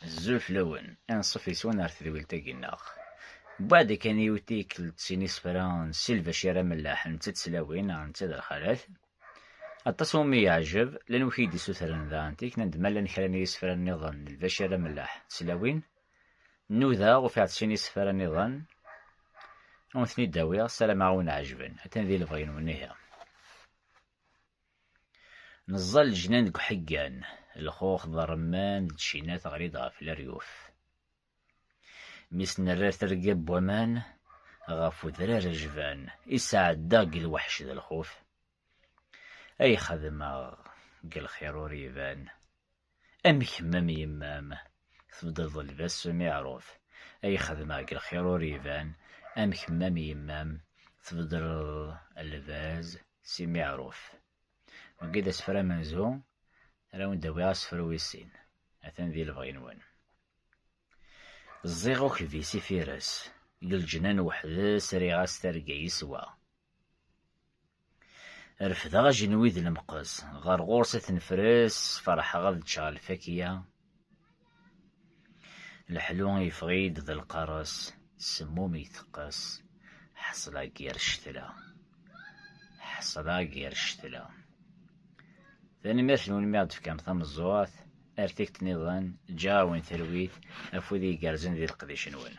Azul fell-awen, anṣuf yes-wen ar tedwilt-agi neɣ? Wweɛd kan i utikel d sin isefra n Si Lbacir Amellaḥ netta d tlawin neɣ netta d lxalat. Aṭas i wumi yeɛjeb, llan wid k-id-isutren daɣen tikna-d ma llan kra n yisefra nniḍen n Lbacir Amellaḥ d tlawin. Nudaɣ, ufiɣ-d sin isefra nniḍen, ad wen-ten-id-awiɣ, ssarameɣ ad wen-ɛejben, atan di lebɣi-nwen ihi. Neẓẓa leǧnan deg uḥeggan, lxux d rremman d tcina teɣli-d ɣef leryuf. Mi s-nerra terga n waman ɣef udrar ajban i sɛeddaɣ deg lweḥc d lxuf, ay xedmeɣ deg lxir ur iban, Am kemm am yemma-m, tbeddleḍ lbas s umiɛruf, ay xedmeɣ deg lxir ur iban, am kemm am yemma-m, tbeddleḍ lbaz s imiɛruf. Wagi d asefru amenzu, ara awen-d-awiɣ asefru wis sin, atan di lebɣi-nwen. Ẓẓiɣ ukbis ifires, deg leǧnan weḥd-s riɣ-as targa yeswa. Refdeɣ ajenwi d lemqes, ɣer ɣur-s ad t-nefres, ferḥeɣ ad ččeɣ lfakya. Leḥlu yeffeɣ-iyi-d d lqares, semmum iteqqes, ḥesla ger ccetla. Ḥesla ger ccetla. Tanemmirt-nwen mi ɣ-d-tefkam tameẓẓuɣt. Ar tikti-nniḍen, ǧǧeɣ-awen talwit, afud igerrzen di leqdic-nwen.